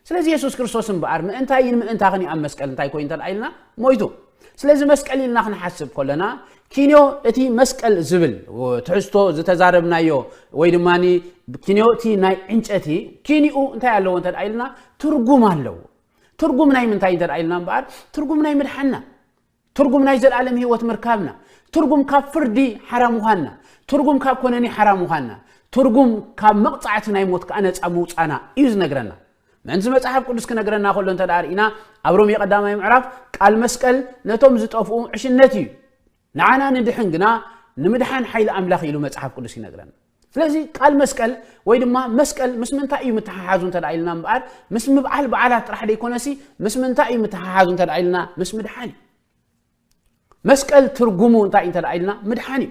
ስለዚ የሱስ ክርስቶስ እምበኣር ምእንታይን ምእንታኽን እዩ ኣብ መስቀል እንታይ ኮይኑ እንተደኣ ኢልና ሞይቱ ስለዚ መስቀል ኢልና ክንሓስብ ከለና ኪንዮ እቲ መስቀል ዝብል ትሕዝቶ ዝተዛረብናዮ ወይ ድማ ኪንዮ እቲ ናይ ዕንጨቲ ኪንኡ እንታይ ኣለዎ እንተ ኢልና ትርጉም ኣለዎ ትርጉም ናይ ምንታይ እንተ ኢልና እምበኣር ትርጉም ናይ ምድሓና ትርጉም ናይ ዘልኣለም ህይወት ምርካብና፣ ትርጉም ካብ ፍርዲ ሓራ ምዃንና፣ ትርጉም ካብ ኮነኒ ሓራ ምዃንና፣ ትርጉም ካብ መቕጻዕቲ ናይ ሞት ከኣ ነጻ ምውጻና እዩ ዝነግረና። ምእንቲ መጽሓፍ ቅዱስ ክነግረና ከሎ እንተ ደኣ ርኢና ኣብ ሮሜ ቀዳማይ ምዕራፍ ቃል መስቀል ነቶም ዝጠፍኡ ዕሽነት እዩ ንዓና ንድሕን ግና ንምድሓን ሓይሊ ኣምላኽ ኢሉ መጽሓፍ ቅዱስ ይነግረና። ስለዚ ቃል መስቀል ወይ ድማ መስቀል ምስ ምንታይ እዩ ምትሓሓዙ እንተ ኢልና እምበኣር ምስ ምብዓል በዓላት ጥራሕ ደይኮነሲ ምስ ምንታይ እዩ ምትሓሓዙ እንተ ኢልና ምስ ምድሓን እዩ መስቀል ትርጉሙ እንታይ እንተ ኢልና ምድሓን እዩ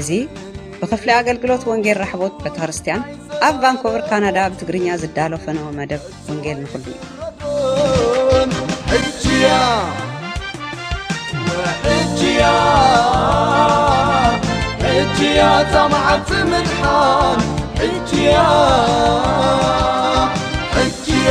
እዚ ብክፍሊ ኣገልግሎት ወንጌል ራሕቦት ቤተክርስትያን ኣብ ቫንኮቨር ካናዳ ብትግርኛ ዝዳሎ ፈነወ መደብ ወንጌል ንኹሉ እዩ ሕጅያ ሕጅያ ሕጅያ እታ መዓልቲ ምድሓን ሕጅያ ሕጅያ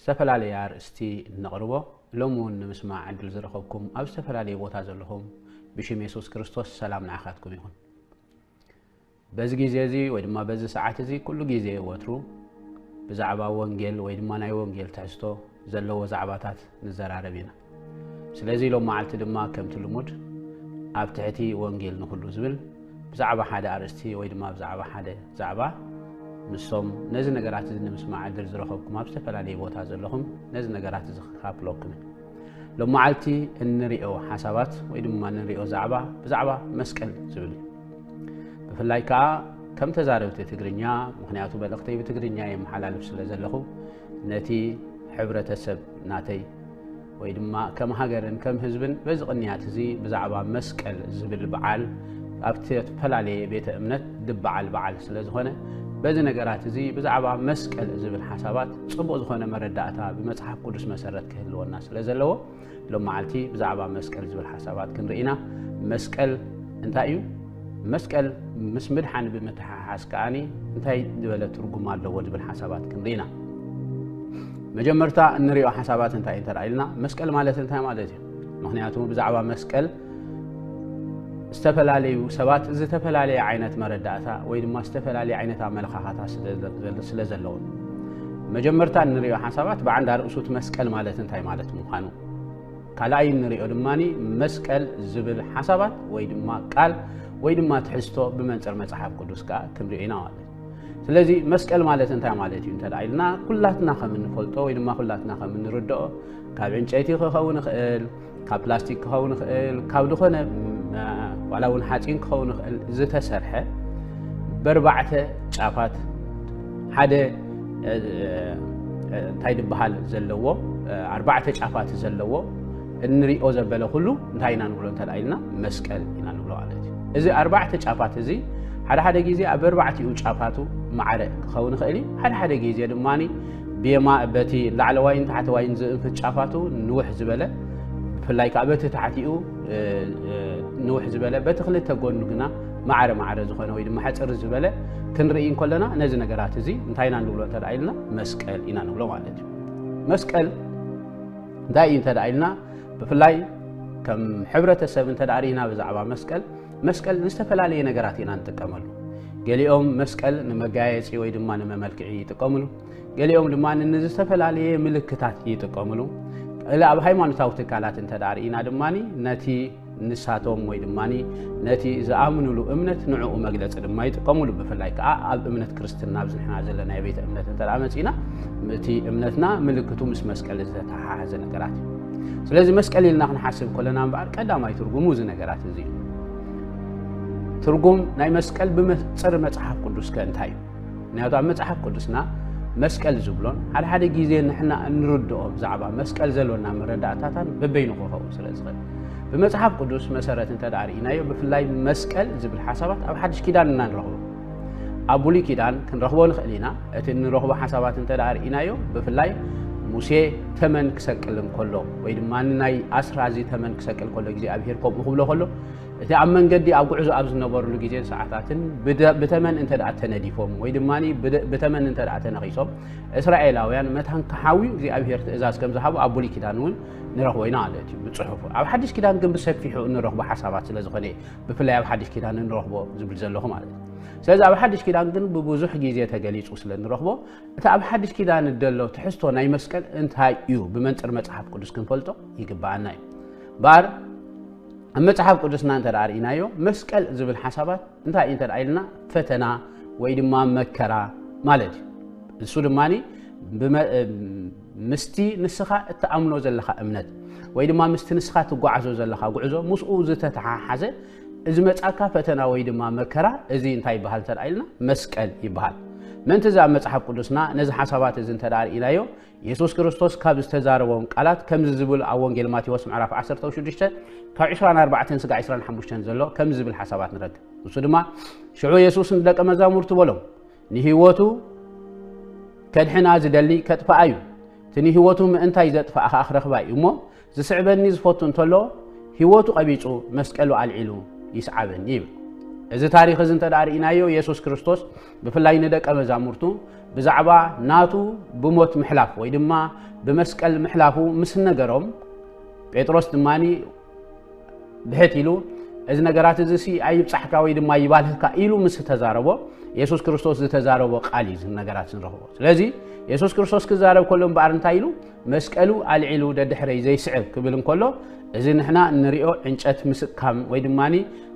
ዝተፈላለየ ኣርእስቲ እነቕርቦ፣ ሎሚ እውን ንምስማዕ ዕድል ዝረኸብኩም ኣብ ዝተፈላለየ ቦታ ዘለኹም ብሽም የሱስ ክርስቶስ ሰላም ንዓኻትኩም ይኹን። በዚ ግዜ እዚ ወይ ድማ በዚ ሰዓት እዚ ኩሉ ግዜ ወትሩ ብዛዕባ ወንጌል ወይ ድማ ናይ ወንጌል ትሕዝቶ ዘለዎ ዛዕባታት ንዘራረብ ኢና። ስለዚ ሎም መዓልቲ ድማ ከምቲ ልሙድ ኣብ ትሕቲ ወንጌል ንኹሉ ዝብል ብዛዕባ ሓደ ኣርእስቲ ወይ ድማ ብዛዕባ ሓደ ዛዕባ ንሶም ነዚ ነገራት እዚ ንምስማዕ ዕድል ዝረኸብኩም ኣብ ዝተፈላለየ ቦታ ዘለኹም ነዚ ነገራት እዚ ክካፍለኩም ሎም መዓልቲ እንሪኦ ሓሳባት ወይ ድማ እንሪኦ ዛዕባ ብዛዕባ መስቀል ዝብል እዩ ብፍላይ ከዓ ከም ተዛረብቲ ትግርኛ ምክንያቱ መልእኽተይ ብትግርኛ የመሓላልፍ ስለ ዘለኹ ነቲ ሕብረተሰብ ናተይ ወይ ድማ ከም ሃገርን ከም ህዝብን በዚ ቅንያት እዚ ብዛዕባ መስቀል ዝብል በዓል ኣብቲ እተፈላለየ ቤተ እምነት ዝበዓል በዓል ስለ ዝኾነ በዚ ነገራት እዚ ብዛዕባ መስቀል ዝብል ሓሳባት ጽቡቕ ዝኾነ መረዳእታ ብመጽሓፍ ቅዱስ መሰረት ክህልወና ስለ ዘለዎ ሎም መዓልቲ ብዛዕባ መስቀል ዝብል ሓሳባት ክንርኢና መስቀል እንታይ እዩ መስቀል ምስ ምድሓን ብምትሓሓዝ ከዓኒ እንታይ ዝበለ ትርጉም ኣለዎ ዝብል ሓሳባት ክንርኢና መጀመርታ እንሪኦ ሓሳባት እንታይ እንተ ኢልና መስቀል ማለት እንታይ ማለት እዩ ምክንያቱ ብዛዕባ መስቀል ዝተፈላለዩ ሰባት ዝተፈላለየ ዓይነት መረዳእታ ወይ ድማ ዝተፈላለየ ዓይነት ኣመለኻኻታ ስለ ዘለዎም መጀመርታ እንሪኦ ሓሳባት ብዓንድ ኣርእሱት መስቀል ማለት እንታይ ማለት ምዃኑ ካልኣይ እንሪኦ ድማ መስቀል ዝብል ሓሳባት ወይ ድማ ቃል ወይ ድማ ትሕዝቶ ብመንፅር መፅሓፍ ቅዱስ ከዓ ክንሪኦ ኢና ማለት ስለዚ መስቀል ማለት እንታይ ማለት እዩ እንተ ኢልና ኩላትና ከም እንፈልጦ ወይ ድማ ኩላትና ከም እንርድኦ ካብ ዕንጨይቲ ክኸውን ይኽእል ካብ ፕላስቲክ ክኸውን ይኽእል ካብ ዝኾነ ዋላ እውን ሓፂን ክኸውን ይኽእል ዝተሰርሐ በርባዕተ ጫፋት ሓደ እንታይ ዝበሃል ዘለዎ ኣርባዕተ ጫፋት ዘለዎ እንሪኦ ዘበለ ኩሉ እንታይ ኢና ንብሎ እንተ ኢልና መስቀል ኢና ንብሎ ማለት እዩ እዚ ኣርባዕተ ጫፋት እዚ ሓደ ሓደ ግዜ ኣብ ኣርባዕቲኡ ጫፋቱ ማዕረ ክኸውን ይኽእል እዩ ሓደ ሓደ ግዜ ድማ ብየማ በቲ ላዕለዋይን ታሕተዋይን ዝእንፍት ጫፋቱ ንውሕ ዝበለ ብፍላይ ከዓ በቲ ታሕቲኡ ንውሕ ዝበለ በቲ ክልተ ጎኑ ግና ማዕረ ማዕረ ዝኾነ ወይ ድማ ሕፅር ዝበለ ክንርኢ እንከለና ነዚ ነገራት እዚ እንታይ ኢና ንብሎ እንተ ኢልና መስቀል ኢና ንብሎ ማለት እዩ መስቀል እንታይ እዩ እንተ ኢልና ብፍላይ ከም ሕብረተሰብ እንተ ርኢና ብዛዕባ መስቀል መስቀል ንዝተፈላለየ ነገራት ኢና ንጥቀመሉ ገሊኦም መስቀል ንመጋየፂ ወይ ድማ ንመመልክዒ ይጥቀምሉ ገሊኦም ድማ ንዝተፈላለየ ምልክታት ይጥቀምሉ እል ኣብ ሃይማኖታዊ ትካላት እንተ ርኢና ድማ ነቲ ንሳቶም ወይ ድማ ነቲ ዝኣምኑሉ እምነት ንዕኡ መግለፂ ድማ ይጥቀሙሉ ብፍላይ ከዓ ኣብ እምነት ክርስትና ኣብዚ ንሕና ዘለና ቤተ እምነት እንተ መፂና እቲ እምነትና ምልክቱ ምስ መስቀል ዝተተሓሓዘ ነገራት እዩ ስለዚ መስቀል ኢልና ክንሓስብ ከለና እምበኣር ቀዳማይ ትርጉሙ እዚ ነገራት እዚ እዩ ትርጉም ናይ መስቀል ብመፅር መፅሓፍ ቅዱስ ከ እንታይ እዩ ምክንያቱ ኣብ መጽሓፍ ቅዱስና መስቀል ዝብሎን ሓደ ሓደ ግዜ ንሕና እንርድኦ ብዛዕባ መስቀል ዘሎና መረዳእታታን በበይኑ ክኸውን ስለ ዝኽእል ብመጽሓፍ ቅዱስ መሰረት እንተ ርኢናዮ ብፍላይ መስቀል ዝብል ሓሳባት ኣብ ሓድሽ ኪዳን እና ንረኽቦ ኣብ ብሉይ ኪዳን ክንረኽቦ ንኽእል ኢና እቲ እንረኽቦ ሓሳባት እንተ ርኢናዮ ብፍላይ ሙሴ ተመን ክሰቅል እንከሎ ወይ ድማ ናይ ኣስራዚ ተመን ክሰቅል ከሎ እግዚኣብሄር ከምኡ ክብሎ ከሎ እቲ ኣብ መንገዲ ኣብ ጉዕዞ ኣብ ዝነበርሉ ግዜን ሰዓታትን ብተመን እንተ ተነዲፎም ወይ ድማ ብተመን እንተ ተነኺሶም እስራኤላውያን መታን ክሓውዩ እግዚኣብሄር ትእዛዝ ከም ዝሃቡ ኣብ ብሉይ ኪዳን እውን ንረኽቦ ኢና ማለት እዩ ብፅሑፉ ኣብ ሓድሽ ኪዳን ግን ብሰፊሑ እንረኽቦ ሓሳባት ስለ ዝኾነ ብፍላይ ኣብ ሓድሽ ኪዳን እንረኽቦ ዝብል ዘለኹ ማለት እዩ ስለዚ ኣብ ሓድሽ ኪዳን ግን ብብዙሕ ግዜ ተገሊፁ ስለ እንረኽቦ እቲ ኣብ ሓድሽ ኪዳን ደሎ ትሕዝቶ ናይ መስቀል እንታይ እዩ ብመንፅር መፅሓፍ ቅዱስ ክንፈልጦ ይግባኣና እዩ እምበኣር ኣብ መጽሓፍ ቅዱስና እንተ ርእናዮ መስቀል ዝብል ሓሳባት እንታይ እዩ እንተ ኢልና ፈተና ወይ ድማ መከራ ማለት እዩ እሱ ድማ ምስቲ ንስኻ እትኣምኖ ዘለኻ እምነት ወይ ድማ ምስቲ ንስኻ ትጓዓዞ ዘለኻ ጉዕዞ ምስኡ ዝተተሓሓዘ እዚ መፃካ ፈተና ወይ ድማ መከራ እዚ እንታይ ይበሃል እንተ ኢልና መስቀል ይበሃል ምእንቲ እዚ ኣብ መፅሓፍ ቅዱስና ነዚ ሓሳባት እዚ እንተ ርእናዮ የሱስ ክርስቶስ ካብ ዝተዛረቦም ቃላት ከምዚ ዝብል ኣብ ወንጌል ማቴዎስ ምዕራፍ 16 ካብ 24 ስጋ 25 ዘሎ ከምዚ ዝብል ሓሳባት ንረክብ ንሱ ድማ ሽዑ የሱስ ንደቀ መዛሙርቱ በሎም ንህይወቱ ከድሕና ዝደሊ ከጥፍኣ እዩ እቲ ንህይወቱ ምእንታይ ዘጥፍኣ ከዓ ክረኽባ እዩ እሞ ዚስዕበኒ ዚፈቱ እንተሎ፣ ህይወቱ ቐቢጹ መስቀሉ ኣልዒሉ ይስዓበኒ ይብል። እዚ ታሪኽ እዚ እንተ ርኢናዮ የሱስ ክርስቶስ ብፍላይ ንደቀ መዛሙርቱ ብዛዕባ ናቱ ብሞት ምሕላፍ ወይ ድማ ብመስቀል ምሕላፉ ምስ ነገሮም ጴጥሮስ ድማ ብሕት ኢሉ እዚ ነገራት እዚ ሲ ኣይብፃሕካ ወይ ድማ ይባልህካ ኢሉ ምስ ተዛረቦ የሱስ ክርስቶስ ዝተዛረቦ ቃል እዩ ነገራት ንረኽቦ ስለዚ የሱስ ክርስቶስ ክዛረብ ከሎ እምበኣር እንታይ ኢሉ መስቀሉ ኣልዒሉ ደድሕረይ ዘይስዕብ ክብል እንከሎ እዚ ንሕና እንሪኦ ዕንጨት ምስካም ወይ ድማ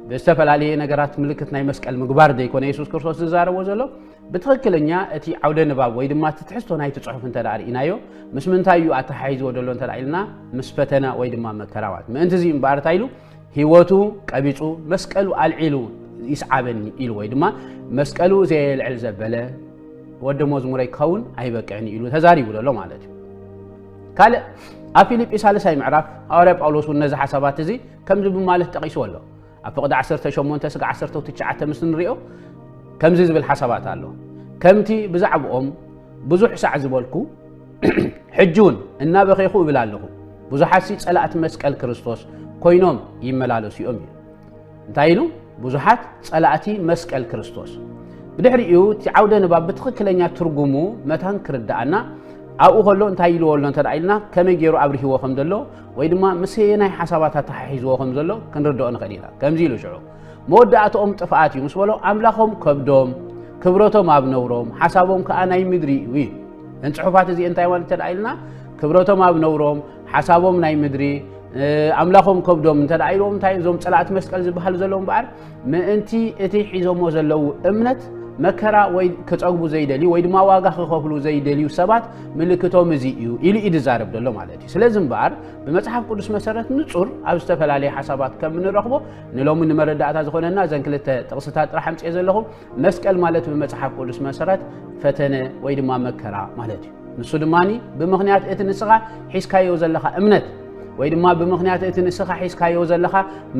ብዝተፈላለየ ነገራት ምልክት ናይ መስቀል ምግባር ዘይኮነ የሱስ ክርስቶስ ዝዛረቦ ዘሎ ብትኽክለኛ እቲ ዓውደ ንባብ ወይ ድማ እቲ ትሕዝቶ ናይቲ ፅሑፍ እንተ ርእናዮ ምስ ምንታይ እዩ ኣተሓሒዝዎ ዘሎ እንተ ኢልና ምስ ፈተና ወይ ድማ መከራዋት ምእንቲ እዚ እምበኣር እንታይ ኢሉ ህይወቱ ቀቢጹ መስቀሉ ኣልዒሉ ይስዓበኒ ኢሉ ወይ ድማ መስቀሉ ዘየልዕል ዘበለ ወዲ መዝሙረይ ክኸውን ኣይበቅዕን ኢሉ ተዛሪቡ ዘሎ ማለት እዩ ካልእ ኣብ ፊልጲ ሳልሳይ ምዕራፍ ሃዋርያ ጳውሎስ እውን ነዚ ሓሳባት እዚ ከምዚ ብማለት ጠቒስዎ ኣሎ ኣብ ፍቕዲ 18 ስጋ 19 ምስ ንሪኦ ከምዚ ዝብል ሓሳባት ኣሎ ከምቲ ብዛዕባኦም ብዙሕ ሳዕ ዝበልኩ ሕጂ እውን እናበኼኹ እብል ኣለኹ ብዙሓት ሲ ጸላእቲ መስቀል ክርስቶስ ኮይኖም ይመላለሱ እዮም እዩ እንታይ ኢሉ ብዙሓት ጸላእቲ መስቀል ክርስቶስ ብድሕሪኡ እቲ ዓውደ ንባብ ብትኽክለኛ ትርጉሙ መታን ክርዳኣና ኣብኡ ከሎ እንታይ ኢልዎ ኣሎ እንተ ኢልና ከመይ ገይሩ ኣብርህዎ ከም ዘሎ ወይ ድማ ምስየናይ ሓሳባት ኣተሓሒዝዎ ከም ዘሎ ክንርድኦ ንኽእል ኢና ከምዚ ኢሉ ሽዑ መወዳእትኦም ጥፍኣት እዩ ምስ በሎም ኣምላኾም ከብዶም ክብረቶም ኣብ ነውሮም ሓሳቦም ከዓ ናይ ምድሪ እዩ እዩ እን ፅሑፋት እዚ እንታይ ማለት እንተደኣ ኢልና ክብረቶም ኣብ ነውሮም ሓሳቦም ናይ ምድሪ ኣምላኾም ከብዶም እንተ ኢልዎም እንታይ እዞም ፀላእቲ መስቀል ዝበሃል ዘለዉ እምበኣር ምእንቲ እቲ ሒዞሞ ዘለዉ እምነት መከራ ወይ ክፀግቡ ዘይደልዩ ወይ ድማ ዋጋ ክኸፍሉ ዘይደልዩ ሰባት ምልክቶም እዚ እዩ ኢሉ እዩ ዝዛረብ ዘሎ ማለት እዩ ስለዚ እምበኣር ብመፅሓፍ ቅዱስ መሰረት ንፁር ኣብ ዝተፈላለየ ሓሳባት ከም እንረኽቦ ንሎሚ ንመረዳእታ ዝኾነና እዘን ክልተ ጥቕስታት ጥራሕ ኣምፅኦ ዘለኹ መስቀል ማለት ብመፅሓፍ ቅዱስ መሰረት ፈተነ ወይ ድማ መከራ ማለት እዩ ንሱ ድማ ብምኽንያት እቲ ንስኻ ሒዝካዮ ዘለኻ እምነት ወይ ድማ ብምኽንያት እቲ ንስኻ ሒዝካዮ ዘለኻ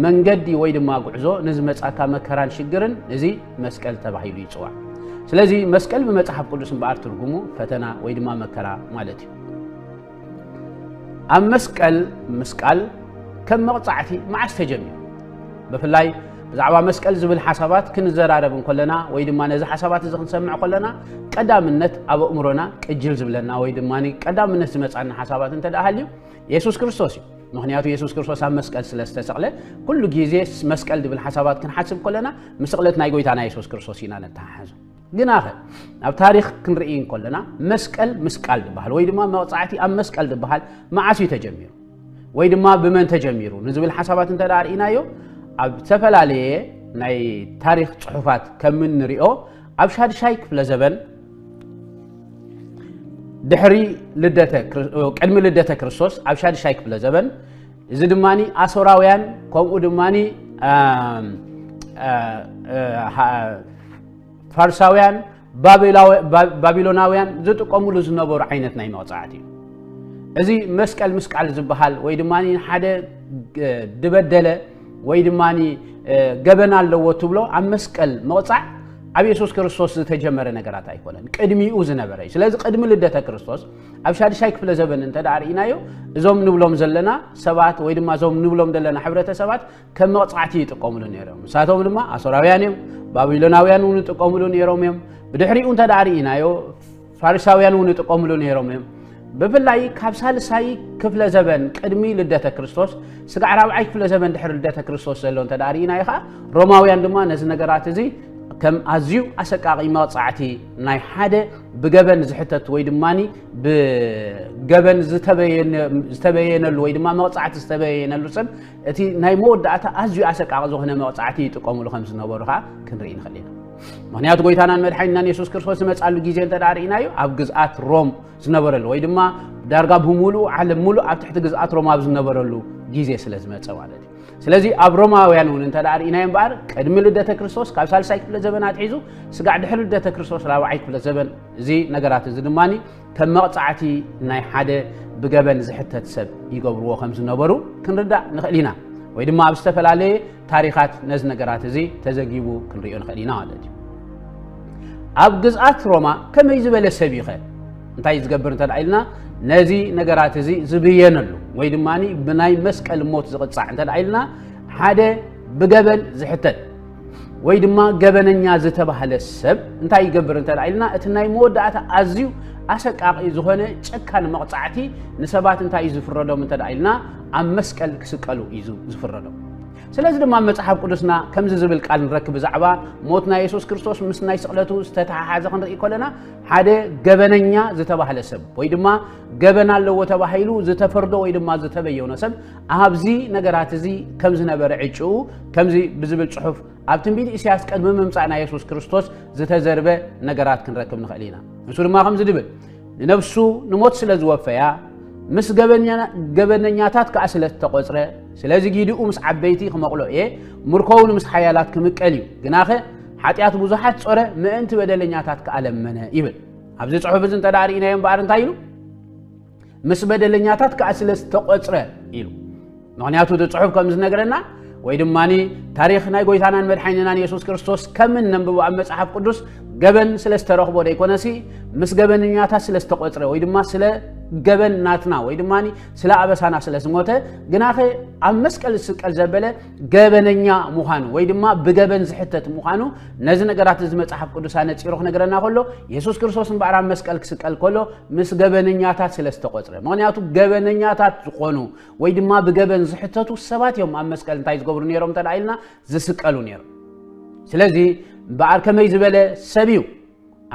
መንገዲ ወይ ድማ ጉዕዞ ንዝመፃካ መከራን ሽግርን እዚ መስቀል ተባሂሉ ይፅዋዕ ስለዚ መስቀል ብመፅሓፍ ቅዱስ እምበኣር ትርጉሙ ፈተና ወይ ድማ መከራ ማለት እዩ ኣብ መስቀል ምስቃል ከም መቕጻዕቲ መዓስ ተጀሚሩ? ብፍላይ ብዛዕባ መስቀል ዝብል ሓሳባት ክንዘራረብ እንከለና ወይ ድማ ነዚ ሓሳባት እዚ ክንሰምዕ ከለና ቀዳምነት ኣብ ኣእምሮና ቅጅል ዝብለና ወይ ድማ ቀዳምነት ዝመፃና ሓሳባት እንተ ሃልዩ የሱስ ክርስቶስ እዩ ምክንያቱ የሱስ ክርስቶስ ኣብ መስቀል ስለ ዝተሰቕለ ኩሉ ግዜ መስቀል ዝብል ሓሳባት ክንሓስብ ከለና ምስቕለት ናይ ጎይታና የሱስ ክርስቶስ ኢና ነተሓሓዞ ግናኸ ናብ ታሪኽ ክንርኢ እንከለና መስቀል ምስቃል ዝበሃል ወይ ድማ መቕፃዕቲ ኣብ መስቀል ዝበሃል መዓስ እዩ ተጀሚሩ ወይ ድማ ብመን ተጀሚሩ ንዝብል ሓሳባት እንተ ርእናዮ ኣብ ዝተፈላለየ ናይ ታሪክ ፅሑፋት ከም እንሪኦ ኣብ ሻድሻይ ክፍለ ዘበን ድሕሪ ቅድሚ ልደተ ክርስቶስ ኣብ ሻድሻይ ክፍለ ዘበን እዚ ድማ ኣሶራውያን ከምኡ ድማ ፋርሳውያን ባቢሎናውያን ዝጥቀምሉ ዝነበሩ ዓይነት ናይ መቕፃዕቲ እዩ እዚ መስቀል ምስቃል ዝበሃል ወይ ድማ ሓደ ድበደለ ወይ ድማ ገበን ኣለዎ ትብሎ ኣብ መስቀል መቕፃዕ ኣብ የሱስ ክርስቶስ ዝተጀመረ ነገራት ኣይኮነን ቅድሚኡ ዝነበረ እዩ ስለዚ ቅድሚ ልደተ ክርስቶስ ኣብ ሻድሻይ ክፍለ ዘበን እንተ ርእናዮ እዞም ንብሎም ዘለና ሰባት ወይ ድማ እዞም ንብሎም ዘለና ሕብረተሰባት ከም መቕጻዕቲ ይጥቀምሉ ነይሮም ንሳቶም ድማ ኣሶራውያን እዮም ባቢሎናውያን እውን ይጥቀምሉ ነይሮም እዮም ብድሕሪኡ እንተ ደኣ ርኢናዮ ፋሪሳውያን እውን ይጥቀምሉ ነይሮም እዮም ብፍላይ ካብ ሳልሳይ ክፍለ ዘበን ቅድሚ ልደተ ክርስቶስ ስጋዕ ራብዓይ ክፍለ ዘበን ድሕሪ ልደተ ክርስቶስ ዘሎ እንተ ደኣ ርኢናዮ ከዓ ሮማውያን ድማ ነዚ ነገራት እዚ ከም ኣዝዩ ኣሰቃቂ መቕጻዕቲ ናይ ሓደ ብገበን ዝሕተት ወይ ድማ ብገበን ዝተበየነሉ ወይ ድማ መቕጻዕቲ ዝተበየነሉ ሰብ እቲ ናይ መወዳእታ ኣዝዩ ኣሰቃቂ ዝኾነ መቕጻዕቲ ይጥቀሙሉ ከም ዝነበሩ ኸዓ ክንርኢ ንኽእል ኢና ምክንያቱ ጎይታናን መድሓኒናን የሱስ ክርስቶስ ዝመፃሉ ግዜ እንተ ርኢናዮ ኣብ ግዝኣት ሮም ዝነበረሉ ወይ ድማ ዳርጋ ብምሉኡ ዓለም ሙሉእ ኣብ ትሕቲ ግዝኣት ሮም ኣብ ዝነበረሉ ግዜ ስለ ዝመፀ ማለት እዩ ስለዚ ኣብ ሮማውያን እውን እንተ ርኢናዮ እምበኣር ቅድሚ ልደተ ክርስቶስ ካብ ሳልሳይ ክፍለ ዘበን ኣትሒዙ ስጋዕ ድሕሪ ልደተ ክርስቶስ ራብዓይ ክፍለ ዘበን እዚ ነገራት እዚ ድማ ከም መቕጻዕቲ ናይ ሓደ ብገበን ዝሕተት ሰብ ይገብርዎ ከም ዝነበሩ ክንርዳእ ንኽእል ኢና ወይ ድማ ኣብ ዝተፈላለየ ታሪኻት ነዚ ነገራት እዚ ተዘጊቡ ክንሪኦ ንኽእል ኢና ማለት እዩ ኣብ ግዝኣት ሮማ ከመይ ዝበለ ሰብ ይኸ እንታይ ዝገብር እንተ ኢልና ነዚ ነገራት እዚ ዝብየነሉ ወይ ድማ ብናይ መስቀል ሞት ዝቕፃዕ እንተ ኢልና ሓደ ብገበን ዝሕተት ወይ ድማ ገበነኛ ዝተባህለ ሰብ እንታይ ይገብር እንተ ኢልና እቲ ናይ መወዳእታ ኣዝዩ ኣሰቃቂ ዝኾነ ጨካን መቕፃዕቲ ንሰባት እንታይ እዩ ዝፍረዶም እንተ ኢልና ኣብ መስቀል ክስቀሉ እዩ ዝፍረዶም ስለዚ ድማ መፅሓፍ ቅዱስና ከምዚ ዝብል ቃል ንረክብ ብዛዕባ ሞት ናይ የሱስ ክርስቶስ ምስ ናይ ስቕለቱ ዝተተሓሓዘ ክንርኢ ከለና ሓደ ገበነኛ ዝተባህለ ሰብ ወይ ድማ ገበን ኣለዎ ተባሂሉ ዝተፈርዶ ወይ ድማ ዝተበየኖ ሰብ ኣብዚ ነገራት እዚ ከም ዝነበረ ዕጭኡ ከምዚ ብዝብል ጽሑፍ ኣብ ትንቢት ኢሳያስ ቅድሚ ምምጻእ ናይ የሱስ ክርስቶስ ዝተዘርበ ነገራት ክንረክብ ንኽእል ኢና ንሱ ድማ ከምዚ ድብል ንነብሱ ንሞት ስለ ዝወፈያ ምስ ገበነኛታት ከዓ ስለ ዝተቆፅረ ስለዚ ጊዲኡ ምስ ዓበይቲ ክመቕሎ እየ ምርኮውን ምስ ሓያላት ክምቀል እዩ ግናኸ ሓጢኣት ብዙሓት ጾረ ምእንቲ በደለኛታት ከዓ ለመነ ይብል ኣብዚ ፅሑፍ እዚ እንተ ርእናዮ እምበኣር እንታይ ኢሉ ምስ በደለኛታት ከዓ ስለ ዝተቆፅረ ኢሉ ምክንያቱ እቲ ፅሑፍ ከም ዝነገረና ወይ ድማ ታሪክ ናይ ጎይታናን መድሓኒናን የሱስ ክርስቶስ ከም እነንብቦ ኣብ መፅሓፍ ቅዱስ ገበን ስለ ዝተረኽቦ ደይኮነሲ ምስ ገበነኛታት ስለ ዝተቆፅረ ወይ ድማ ስለ ገበን ናትና ወይ ድማ ስለ ኣበሳና ስለ ዝሞተ ግናኸ ኣብ መስቀል ዝስቀል ዘበለ ገበነኛ ምዃኑ ወይ ድማ ብገበን ዝሕተት ምዃኑ ነዚ ነገራት እዚ መፅሓፍ ቅዱስ ኣነፂሩ ክነገረና ከሎ የሱስ ክርስቶስ እምበኣር ኣብ መስቀል ክስቀል ከሎ ምስ ገበነኛታት ስለ ዝተቆፅረ ምክንያቱ ገበነኛታት ዝኾኑ ወይ ድማ ብገበን ዝሕተቱ ሰባት እዮም ኣብ መስቀል እንታይ ዝገብሩ ነይሮም እንተ ኢልና ዝስቀሉ ነይሮም ስለዚ እምበኣር ከመይ ዝበለ ሰብ እዩ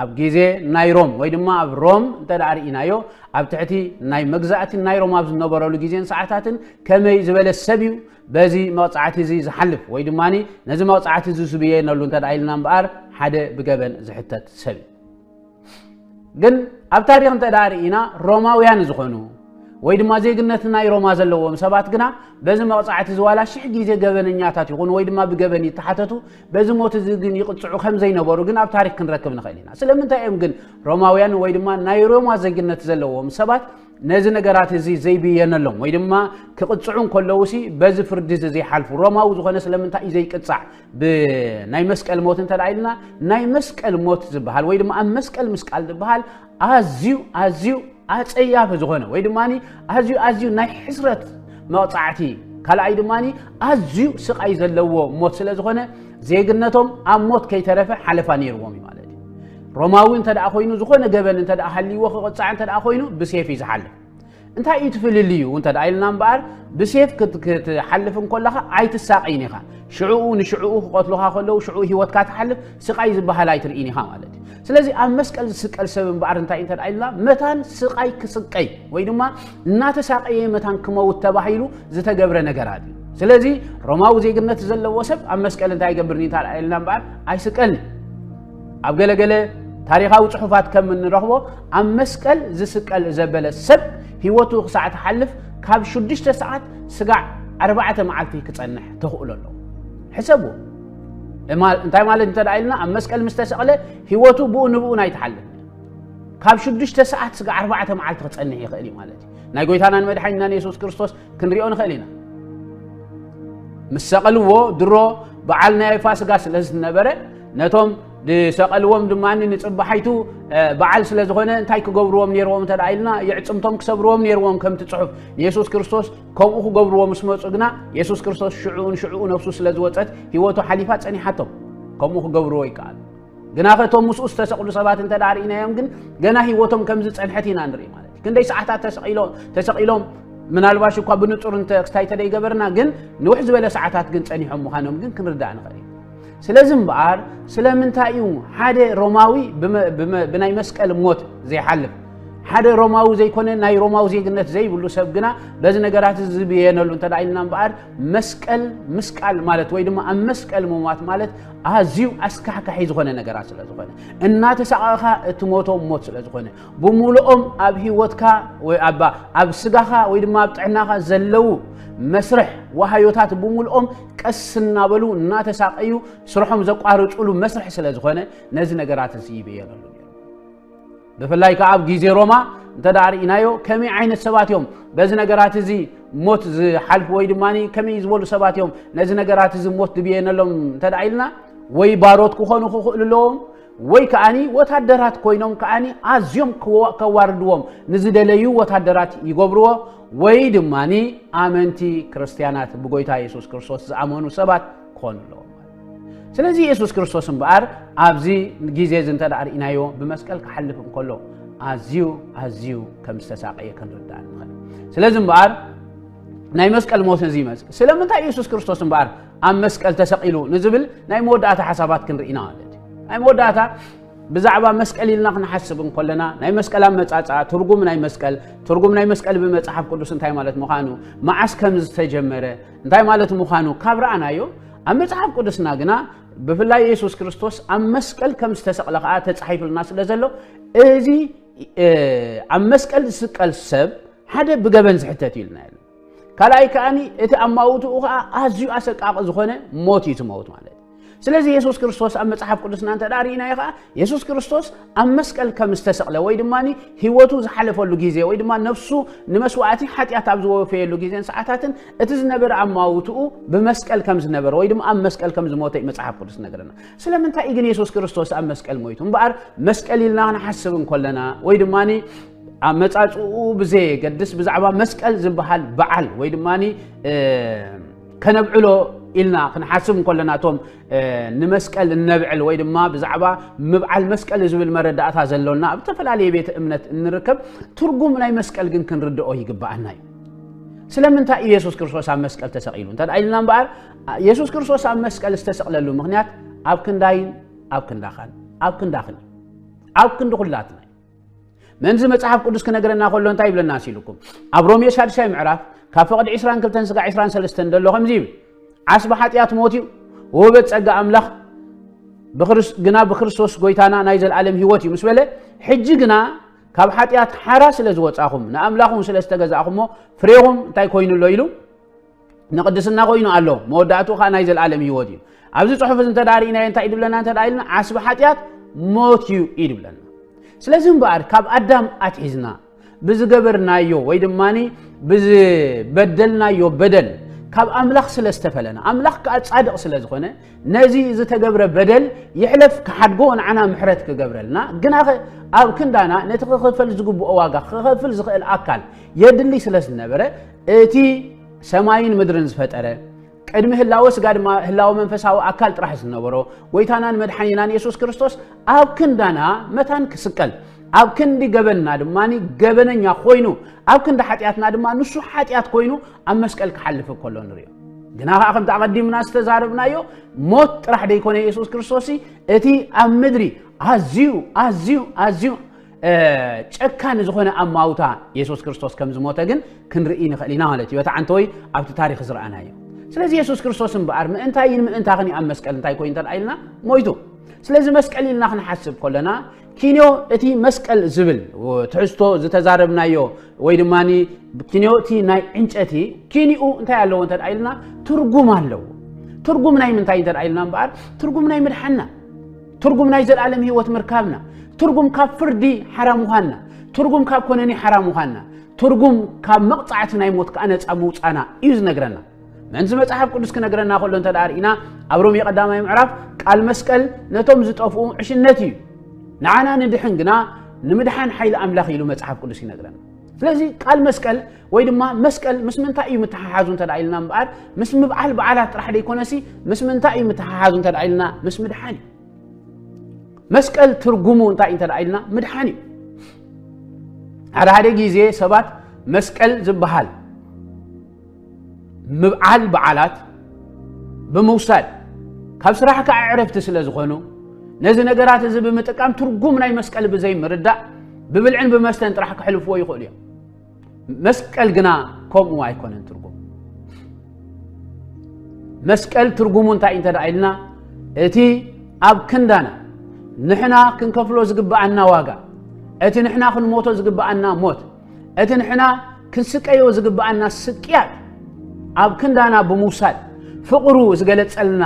ኣብ ግዜ ናይ ሮም ወይ ድማ ኣብ ሮም እንተ ርኢናዮ ኣብ ትሕቲ ናይ መግዛእቲ ናይ ሮም ኣብ ዝነበረሉ ግዜን ሰዓታትን ከመይ ዝበለ ሰብ እዩ በዚ መቕፃዕቲ እዚ ዝሓልፍ ወይ ድማ ነዚ መቕፃዕቲ እዚ ዝብየነሉ እንተ ኢልና እምበኣር ሓደ ብገበን ዝሕተት ሰብ እዩ ግን ኣብ ታሪኽ እንተ ደኣ ርኢና ሮማውያን ዝኾኑ ወይ ድማ ዜግነት ናይ ሮማ ዘለዎም ሰባት ግና በዚ መቕጻዕቲ እዚ ዋላ ሽሕ ግዜ ገበነኛታት ይኹኑ ወይ ድማ ብገበን ይተሓተቱ በዚ ሞት እዚ ግን ይቕጽዑ ከም ዘይነበሩ ግን ኣብ ታሪክ ክንረክብ ንኽእል ኢና ስለምንታይ እዮም ግን ሮማውያን ወይ ድማ ናይ ሮማ ዜግነት ዘለዎም ሰባት ነዚ ነገራት እዚ ዘይብየነሎም ወይ ድማ ክቕጽዑ እንከለውሲ በዚ ፍርዲ እዚ ዘይሓልፉ ሮማዊ ዝኾነ ስለምንታይ እዩ ዘይቅጻዕ ብናይ መስቀል ሞት እንተ ኢልና ናይ መስቀል ሞት ዝበሃል ወይ ድማ ኣብ መስቀል ምስቃል ዝበሃል ኣዝዩ ኣዝዩ ኣፀያፊ ዝኾነ ወይ ድማ ኣዝዩ ኣዝዩ ናይ ሕስረት መቕፃዕቲ ካልኣይ ድማ ኣዝዩ ስቃይ ዘለዎ ሞት ስለ ዝኾነ ዜግነቶም ኣብ ሞት ከይተረፈ ሓለፋ ነይርዎም እዩ ማለት እዩ ሮማዊ እንተ ኮይኑ ዝኾነ ገበን እንተ ሃልይዎ ክቕፃዕ እንተ ኮይኑ ብሴፍ እዩ ዝሓልፍ እንታይ እዩ ትፍልልዩ እንተ ኢልና እምበኣር ብሴፍ ክትሓልፍ እንከለኻ ኣይትሳቐይን ኢኻ ሽዕኡ ንሽዕኡ ክቐትሉኻ ከለዉ ሽዕኡ ሂወትካ ትሓልፍ ስቓይ ዝበሃል ኣይትርኢን ኢኻ ማለት እዩ ስለዚ ኣብ መስቀል ዝስቀል ሰብ እምበኣር እንታይ እንተ ኢልና መታን ስቓይ ክስቀይ ወይ ድማ እናተሳቀየ መታን ክመውት ተባሂሉ ዝተገብረ ነገራት እዩ ስለዚ ሮማዊ ዜግነት ዘለዎ ሰብ ኣብ መስቀል እንታይ ይገብርኒ እንተ ኢልና እምበኣር ኣይስቀልን ኣብ ገለ ገለ ታሪኻዊ ጽሑፋት ከም እንረኽቦ ኣብ መስቀል ዝስቀል ዘበለ ሰብ ህይወቱ ክሳዕ ትሓልፍ ካብ ሽዱሽተ ሰዓት ስጋዕ ኣርባዕተ መዓልቲ ክጸንሕ ተኽእሎ ኣለዎ ሕሰቡ እንታይ ማለት እንተ ኢልና ኣብ መስቀል ምስ ተሰቕለ ህይወቱ ብኡ ንብኡ ናይ ትሓልፍ ካብ ሽዱሽተ ሰዓት ስጋዕ ኣርባዕተ መዓልቲ ክጸንሕ ይኽእል እዩ ማለት እዩ ናይ ጎይታናን መድሓኒናን የሱስ ክርስቶስ ክንሪኦ ንኽእል ኢና ምስ ሰቐልዎ ድሮ በዓል ናይ ፋስጋ ስለ ዝነበረ ነቶም ዝሰቐልዎም ድማ ንፅባሓይቱ በዓል ስለ ዝኾነ እንታይ ክገብርዎም ነይርዎም እንተ ኢልና የዕፅምቶም ክሰብርዎም ነይርዎም ከምቲ ፅሑፍ ንየሱስ ክርስቶስ ከምኡ ክገብርዎ ምስ መፁ ግና የሱስ ክርስቶስ ሽዑኡን ሽዑኡ ነፍሱ ስለ ዝወፀት ህይወቱ ሓሊፋ ፀኒሓቶም ከምኡ ክገብርዎ ይከኣል ግናኸ እቶም ምስኡ ዝተሰቕሉ ሰባት እንተ ርእናዮም ግን ገና ህይወቶም ከም ዝጸንሐት ኢና ንርኢ ማለት እዩ ክንደይ ሰዓታት ተሰቒሎም ምናልባሽ እኳ ብንጹር ክስታይ ተደይገበርና ግን ንውሕ ዝበለ ሰዓታት ግን ጸኒሖም ምዃኖም ግን ክንርዳእ ንኽእል እዩ ስለዚ እምበኣር ስለምንታይ እዩ ሓደ ሮማዊ ብናይ መስቀል ሞት ዘይሓልፍ ሓደ ሮማዊ ዘይኮነ ናይ ሮማዊ ዜግነት ዘይብሉ ሰብ ግና በዚ ነገራት ዝብየነሉ እንተ ኢልና እምበኣር መስቀል ምስቃል ማለት ወይ ድማ ኣብ መስቀል ምሟት ማለት ኣዝዩ ኣስካሕካሒ ዝኾነ ነገራት ስለ ዝኾነ እናተሳቐቕኻ እትሞቶም ሞት ስለ ዝኾነ ብምሉኦም ኣብ ህይወትካ ወይ ኣብ ስጋኻ ወይ ድማ ኣብ ጥዕናኻ ዘለዉ መስርሕ ዋሃዮታት ብምልኦም ቀስ እናበሉ እናተሳቀዩ ስርሖም ዘቋርፅሉ መስርሕ ስለ ዝኾነ ነዚ ነገራት እዚ ይብየለሉ ብፍላይ ከዓ ኣብ ግዜ ሮማ እንተ ርእናዮ ከመይ ዓይነት ሰባት እዮም በዚ ነገራት እዚ ሞት ዝሓልፉ ወይ ድማ ከመይ ዝበሉ ሰባት እዮም ነዚ ነገራት እዚ ሞት ድብየነሎም እንተ ኢልና ወይ ባሮት ክኾኑ ክኽእሉ ኣለዎም ወይ ከዓኒ ወታደራት ኮይኖም ከዓኒ ኣዝዮም ከዋርድዎም ንዝደለዩ ወታደራት ይገብርዎ ወይ ድማ ኣመንቲ ክርስትያናት ብጎይታ የሱስ ክርስቶስ ዝኣመኑ ሰባት ክኾኑ ኣለዎም ስለዚ የሱስ ክርስቶስ እምበኣር ኣብዚ ግዜ እዚ እንተ ርእናዮ ብመስቀል ክሓልፍ እንከሎ ኣዝዩ ኣዝዩ ከም ዝተሳቀየ ክንርዳእ ንኽእል ስለዚ እምበኣር ናይ መስቀል ሞት እዚ ይመፅእ ስለምንታይ የሱስ ክርስቶስ እምበኣር ኣብ መስቀል ተሰቂሉ ንዝብል ናይ መወዳእታ ሓሳባት ክንርኢና ማለት እዩ ናይ መወዳእታ ብዛዕባ መስቀል ኢልና ክንሓስብ እንከለና ናይ መስቀል ኣመፃፅኣ ትርጉም ናይ መስቀል ትርጉም ናይ መስቀል ብመፅሓፍ ቅዱስ እንታይ ማለት ምዃኑ መዓስ ከም ዝተጀመረ እንታይ ማለት ምዃኑ ካብ ረኣናዮ ኣብ መጽሓፍ ቅዱስና ግና ብፍላይ የሱስ ክርስቶስ ኣብ መስቀል ከም ዝተሰቕለ ከዓ ተጻሒፍልና ስለ ዘሎ እዚ ኣብ መስቀል ዝስቀል ሰብ ሓደ ብገበን ዝሕተት እዩ ኢልና ካልኣይ ከዓኒ እቲ ኣማውትኡ ከዓ ኣዝዩ ኣሰቃቂ ዝኾነ ሞት እዩ ትመውት ማለት ስለዚ የሱስ ክርስቶስ ኣብ መጽሓፍ ቅዱስና እንተ ርኢናዮ ከዓ የሱስ ክርስቶስ ኣብ መስቀል ከም ዝተሰቕለ ወይ ድማ ህይወቱ ዝሓለፈሉ ግዜ ወይ ድማ ነፍሱ ንመስዋእቲ ሓጢኣት ኣብ ዝወፈየሉ ግዜን ሰዓታትን እቲ ዝነበረ ኣማውትኡ ብመስቀል ከም ዝነበረ ወይ ድማ ኣብ መስቀል ከም ዝሞተ እዩ መጽሓፍ ቅዱስ ነገረና ስለምንታይ እዩ ግን የሱስ ክርስቶስ ኣብ መስቀል ሞይቱ እምበኣር መስቀል ኢልና ክንሓስብ እንከለና ወይ ድማ ኣመፃፅኡ ብዘየገድስ ብዛዕባ መስቀል ዝበሃል በዓል ወይ ድማ ከነብዕሎ ኢልና ክንሓስብ እንከለና እቶም ንመስቀል እነብዕል ወይ ድማ ብዛዕባ ምብዓል መስቀል ዝብል መረዳእታ ዘሎና ኣብ ዝተፈላለየ ቤተ እምነት እንርከብ ትርጉም ናይ መስቀል ግን ክንርድኦ ይግባኣና እዩ ስለምንታይ እዩ የሱስ ክርስቶስ ኣብ መስቀል ተሰቂሉ እንተ ኢልና እምበኣር የሱስ ክርስቶስ ኣብ መስቀል ዝተሰቕለሉ ምክንያት ኣብ ክንዳይን ኣብ ክንዳኻን ኣብ ክንዳኽን ኣብ ክንዲ ኩላትና መንዚ መጽሓፍ ቅዱስ ክነገረና ከሎ እንታይ ይብለና ሲልኩም ኣብ ሮሜ ሻድሻይ ምዕራፍ ካብ ፈቕዲ 22 ስጋ 23 ደሎ ከምዚ ይብል ዓስቢ ሓጢኣት ሞት እዩ ወበት ጸጋ ኣምላኽ ግና ብክርስቶስ ጎይታና ናይ ዘለዓለም ህይወት እዩ ምስ በለ ሕጂ ግና ካብ ሓጢኣት ሓራ ስለ ዝወጻኹም ንኣምላኹም ስለ ዝተገዛእኹሞ ፍሬኹም እንታይ ኮይኑ ኣሎ ኢሉ ንቕድስና ኮይኑ ኣሎ መወዳእትኡ ከዓ ናይ ዘለኣለም ህይወት እዩ ኣብዚ ፅሑፍ እዚ እንተ ርእናዮ እንታይ ድብለና እንተ ኢልና ዓስቢ ሓጢኣት ሞት እዩ እዩ ድብለና ስለዚ እምበኣር ካብ ኣዳም ኣትሒዝና ብዝገበርናዮ ወይ ድማ ብዝበደልናዮ በደል ካብ ኣምላኽ ስለ ዝተፈለና ኣምላኽ ከዓ ጻድቕ ስለ ዝኾነ ነዚ ዝተገብረ በደል ይሕለፍ ክሓድጎ ንዓና ምሕረት ክገብረልና ግናኸ ኣብ ክንዳና ነቲ ክኽፈል ዝግብኦ ዋጋ ክኸፍል ዝኽእል ኣካል የድሊ ስለ ዝነበረ እቲ ሰማይን ምድርን ዝፈጠረ ቅድሚ ህላወ ስጋ ድማ ህላወ መንፈሳዊ ኣካል ጥራሕ ዝነበሮ ጎይታናን መድሓኒናን የሱስ ክርስቶስ ኣብ ክንዳና መታን ክስቀል ኣብ ክንዲ ገበንና ድማ ገበነኛ ኮይኑ ኣብ ክንዲ ሓጢኣትና ድማ ንሱ ሓጢኣት ኮይኑ ኣብ መስቀል ክሓልፍ ከሎ ንሪኦ ግና ከዓ ከምቲ ኣቐዲምና ዝተዛረብናዮ ሞት ጥራሕ ደይኮነ የሱስ ክርስቶስ እቲ ኣብ ምድሪ ኣዝዩ ኣዝዩ ኣዝዩ ጨካን ዝኾነ ኣማውታ የሱስ ክርስቶስ ከም ዝሞተ ግን ክንርኢ ንኽእል ኢና ማለት እዩ በቲ ዓንተወይ ኣብቲ ታሪክ ዝረኣና እዩ ስለዚ የሱስ ክርስቶስ እምበኣር ምእንታይን ምእንታኽን ኣብ መስቀል እንታይ ኮይኑ እንተደኣ ኢልና ሞይቱ ስለዚ መስቀል ኢልና ክንሓስብ ከለና ኪንዮ እቲ መስቀል ዝብል ትሕዝቶ ዝተዛረብናዮ ወይ ድማ ኪንዮ እቲ ናይ ዕንጨቲ ኪኒኡ እንታይ ኣለዎ እንተ ኢልና ትርጉም ኣለዎ ትርጉም ናይ ምንታይ እንተ ኢልና እምበኣር ትርጉም ናይ ምድሓና ትርጉም ናይ ዘልኣለም ህይወት ምርካብና፣ ትርጉም ካብ ፍርዲ ሓራ ምዃንና፣ ትርጉም ካብ ኮነኒ ሓራ ምዃንና፣ ትርጉም ካብ መቕጻዕቲ ናይ ሞት ከኣ ነጻ ምውጻና እዩ ዝነግረና። ምእንቲ መጽሓፍ ቅዱስ ክነግረና ከሎ እንተ ደኣ ርኢና ኣብ ሮሜ ቀዳማይ ምዕራፍ ቃል መስቀል ነቶም ዝጠፍኡ ዕሽነት እዩ፣ ንዓና ንድሕን ግና ንምድሓን ሓይሊ ኣምላኽ ኢሉ መጽሓፍ ቅዱስ ይነግረና። ስለዚ ቃል መስቀል ወይ ድማ መስቀል ምስ ምንታይ እዩ ምትሓሓዙ እንተ ኢልና እምበኣር ምስ ምብዓል በዓላት ጥራሕ ደይኮነሲ ምስ ምንታይ እዩ ምትሓሓዙ እንተ ኢልና ምስ ምድሓን እዩ መስቀል ትርጉሙ እንታይ እንተ ኢልና ምድሓን እዩ ሓደ ሓደ ግዜ ሰባት መስቀል ዝበሃል ምብዓል በዓላት ብምውሳድ ካብ ስራሕ ከዓ ዕረፍቲ ስለ ዝኾኑ ነዚ ነገራት እዚ ብምጥቃም ትርጉም ናይ መስቀል ብዘይ ምርዳእ ብብልዕን ብመስተን ጥራሕ ክሕልፍዎ ይኽእሉ እዮም መስቀል ግና ከምኡ ኣይኮነን ትርጉም መስቀል ትርጉሙ እንታይ እንተ ደኣ ኢልና እቲ ኣብ ክንዳና ንሕና ክንከፍሎ ዝግብኣና ዋጋ እቲ ንሕና ክንሞቶ ዝግብኣና ሞት እቲ ንሕና ክንስቀዮ ዝግብኣና ስቅያት ኣብ ክንዳና ብምውሳድ ፍቕሩ ዝገለጸልና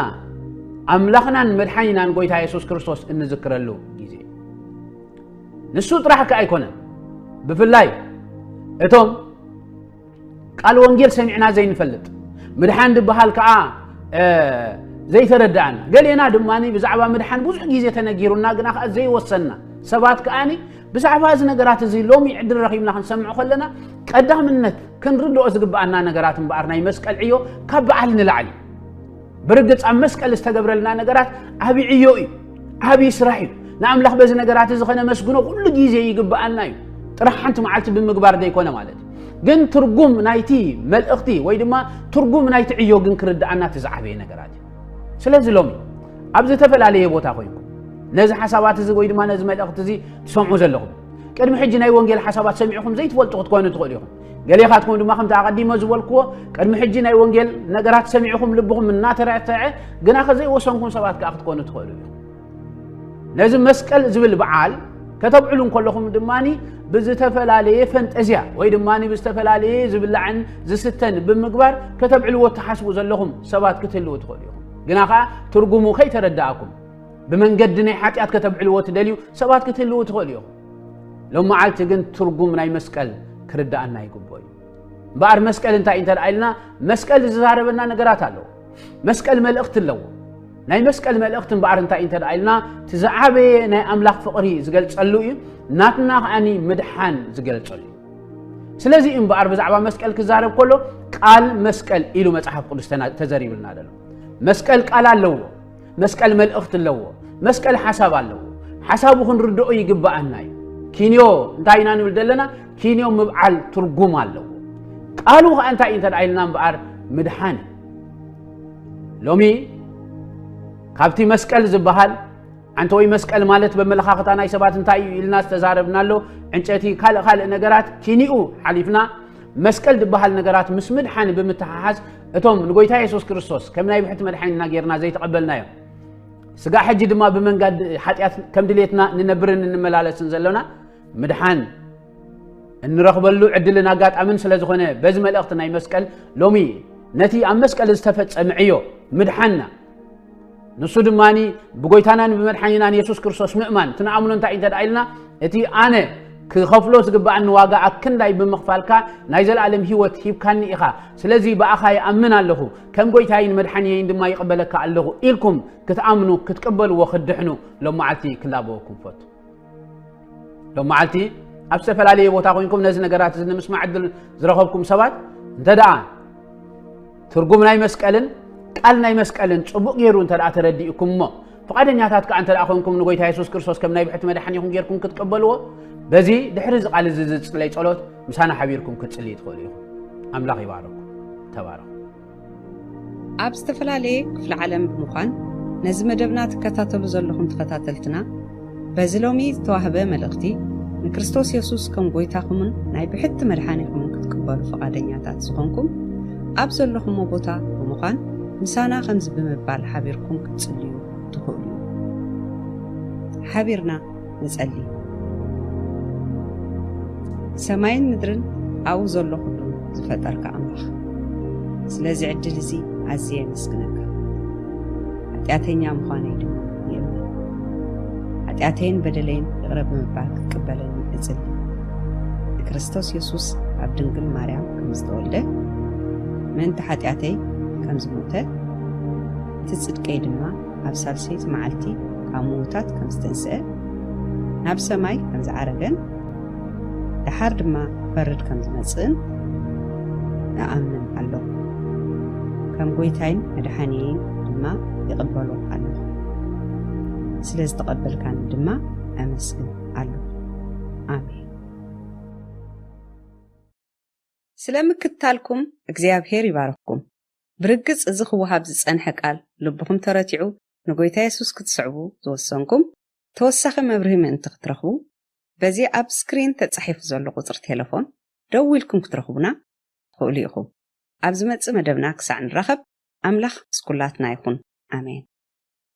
ኣምላኽናን መድሓኒናን ጎይታ የሱስ ክርስቶስ እንዝክረሉ ግዜ ንሱ ጥራሕ ከ ኣይኮነን ብፍላይ እቶም ቃል ወንጌል ሰሚዕና ዘይንፈልጥ ምድሓን ድበሃል ከዓ ዘይተረዳእና ገሌና ድማ ብዛዕባ ምድሓን ብዙሕ ግዜ ተነጊሩና ግና ከዓ ዘይወሰንና ሰባት ከዓኒ ብዛዕባ እዚ ነገራት እዚ ሎሚ ዕድል ረኺብና ክንሰምዕ ከለና ቀዳምነት ክንርድኦ ዝግብኣና ነገራት እምበኣር ናይ መስቀል ዕዮ ካብ በዓል ንላዕሊ ብርግፅ ኣብ መስቀል ዝተገብረልና ነገራት ዓብ ዕዮ እዩ ዓብ ስራሕ እዩ ንኣምላኽ በዚ ነገራት እዚ ከነመስግኖ ኩሉ ግዜ ይግብኣና እዩ ጥራሕ ሓንቲ መዓልቲ ብምግባር ዘይኮነ ማለት እዩ ግን ትርጉም ናይቲ መልእኽቲ ወይ ድማ ትርጉም ናይቲ ዕዮ ግን ክርድኣና እቲ ዝዓበየ ነገራት እዩ ስለዚ ሎሚ ኣብ ዝተፈላለየ ቦታ ኮይንኩም ነዚ ሓሳባት እዚ ወይ ድማ ነዚ መልእኽቲ እዚ ትሰምዑ ዘለኹም ቅድሚ ሕጂ ናይ ወንጌል ሓሳባት ሰሚዕኹም ዘይትፈልጡ ክትኮኑ ትኽእሉ ኢኹም ገሌ ካትኩም ድማ ከምቲ ኣቐዲመ ዝበልክዎ ቅድሚ ሕጂ ናይ ወንጌል ነገራት ሰሚዕኹም ልብኹም እናተረተዐ ግና ከዘይወሰንኩም ሰባት ከዓ ክትኮኑ ትኽእሉ ኢኹም ነዚ መስቀል ዝብል በዓል ከተብዕሉ እንከለኹም ድማ ብዝተፈላለየ ፈንጠዝያ ወይ ድማ ብዝተፈላለየ ዝብላዕን ዝስተን ብምግባር ከተብዕልዎ እትሓስቡ ዘለኹም ሰባት ክትህልው ትኽእሉ ኢኹም ግና ከዓ ትርጉሙ ከይተረዳእኩም ብመንገዲ ናይ ሓጢኣት ከተብዕልዎ ትደልዩ ሰባት ክትህልው ትኽእሉ ኢኹም ሎም መዓልቲ ግን ትርጉም ናይ መስቀል ክርዳእና ይግብኦ እዩ እምበኣር መስቀል እንታይ እንተ ኢልና መስቀል ዝዛረበና ነገራት ኣለዎ መስቀል መልእኽቲ ኣለዎ ናይ መስቀል መልእኽቲ እምበኣር እንታይ እንተ ኢልና እቲ ዝዓበየ ናይ ኣምላኽ ፍቕሪ ዝገልጸሉ እዩ ናትና ከዓኒ ምድሓን ዝገልጸሉ እዩ ስለዚ እምበኣር ብዛዕባ መስቀል ክዛረብ ከሎ ቃል መስቀል ኢሉ መጽሓፍ ቅዱስ ተዘሪብልና ዘሎ መስቀል ቃል ኣለዎ መስቀል መልእኽቲ ኣለዎ። መስቀል ሓሳብ ኣለዎ። ሓሳቡ ክንርድኦ ይግባኣና እዩ። ኪንዮ እንታይ ኢና ንብል ዘለና? ኪንዮ ምብዓል ትርጉም ኣለዎ። ቃሉ ከዓ እንታይ እዩ እንተ ኢልና እምበኣር ምድሓን እዩ። ሎሚ ካብቲ መስቀል ዝበሃል ኣንተ ወይ መስቀል ማለት በመለኻኽታ ናይ ሰባት እንታይ እዩ ኢልና ዝተዛረብና ኣሎ ዕንጨቲ ካልእ ካልእ ነገራት ኪኒኡ ሓሊፍና መስቀል ዝበሃል ነገራት ምስ ምድሓን ብምትሓሓዝ እቶም ንጎይታ የሱስ ክርስቶስ ከም ናይ ብሕቲ መድሓኒትና ጌርና ዘይተቐበልናዮ ስጋ ሕጂ ድማ ብመንጋድ ሓጢኣት ከም ድሌትና ንነብርን እንመላለስን ዘለና ምድሓን እንረኽበሉ ዕድልን ኣጋጣምን ስለ ዝኾነ በዚ መልእኽቲ ናይ መስቀል ሎሚ ነቲ ኣብ መስቀል ዝተፈጸመ ዕዮ ምድሓንና ንሱ ድማ ብጎይታናን ብመድሓኒናን የሱስ ክርስቶስ ምእማን እቲ ንኣምኖ እንታይ እንተ ኢልና እቲ ኣነ ክኸፍሎ ዝግብኣኒ ዋጋ ኣክንዳይ ብምኽፋልካ ናይ ዘለኣለም ህይወት ሂብካኒ ኢኻ ስለዚ ብኣኻ ይኣምን ኣለኹ ከም ጎይታይን መድሓንየይን ድማ ይቕበለካ ኣለኹ ኢልኩም ክትኣምኑ ክትቅበልዎ ክትድሕኑ ሎመዓልቲ ክላበወኩም ፈቱ ሎም መዓልቲ ኣብ ዝተፈላለየ ቦታ ኮንኩም ነዚ ነገራት እዚ ንምስማዕ ዕድል ዝረኸብኩም ሰባት እንተ ደኣ ትርጉም ናይ መስቀልን ቃል ናይ መስቀልን ጽቡቕ ገይሩ እንተ ደኣ ተረዲእኩም እሞ ፍቓደኛታት ከዓ እንተ ደኣ ኮንኩም ንጎይታ የሱስ ክርስቶስ ከም ናይ ብሕቲ መድሓኒኹም ጌርኩም ክትቀበልዎ በዚ ድሕሪ እዚ ቃል እዚ ዝጽለይ ጸሎት ምሳና ሓቢርኩም ክትጽልይ ትኽእሉ ኢኹም ኣምላኽ ይባረኩም ተባረኹ ኣብ ዝተፈላለየ ክፍለ ዓለም ብምዃን ነዚ መደብና ትከታተሉ ዘለኹም ተኸታተልትና በዚ ሎሚ ዝተዋህበ መልእኽቲ ንክርስቶስ የሱስ ከም ጐይታኹምን ናይ ብሕቲ መድሓኒኹምን ክትቅበሉ ፈቓደኛታት ዝኾንኩም ኣብ ዘለኹሞ ቦታ ብምዃን ምሳና ከምዚ ብምባል ሓቢርኩም ክትጽልዩ ትኽእሉ ሓቢርና ንጸሊ። ሰማይን ምድርን ኣብኡ ዘሎ ኩሉ ዝፈጠርካ ኣምላኽ ስለዚ ዕድል እዚ ኣዝየ የመስግነካ። ሓጢኣተኛ ምዃነይ ድማ ይእመን። ሓጢኣተይን በደለይን ይቕረ ብምባል ክትቅበለኒ እጽሊ። ንክርስቶስ የሱስ ኣብ ድንግል ማርያም ከም ዝተወልደ ምእንቲ ሓጢኣተይ ከም ዝሞተ እቲ ጽድቀይ ድማ ኣብ ሳልሰይቲ መዓልቲ ካብ ምዉታት ከም ዝተንስአ፣ ናብ ሰማይ ከም ዝዓረገን ደሓር ድማ ክፈርድ ከም ዝመጽእን እኣምን ኣሎኹ። ከም ጐይታይን መድሓኒየይን ድማ ይቕበሎ ኣሎኹ። ስለ ዝተቐበልካኒ ድማ ኣመስግን ኣሎኹ። ኣሜን። ስለ ምክትታልኩም እግዚኣብሄር ይባርኽኩም። ብርግጽ እዚ ክወሃብ ዝጸንሐ ቃል ልብኹም ተረቲዑ ንጎይታ የሱስ ክትስዕቡ ዝወሰንኩም ተወሳኺ መብርሂ ምእንቲ ክትረኽቡ በዚ ኣብ ስክሪን ተጻሒፉ ዘሎ ቁጽሪ ቴለፎን ደዊልኩም ክትረኽቡና ትኽእሉ ኢኹም ኣብ ዝመጽእ መደብና ክሳዕ ንራኸብ ኣምላኽ ምስ ኩላትና ይኹን ኣሜን።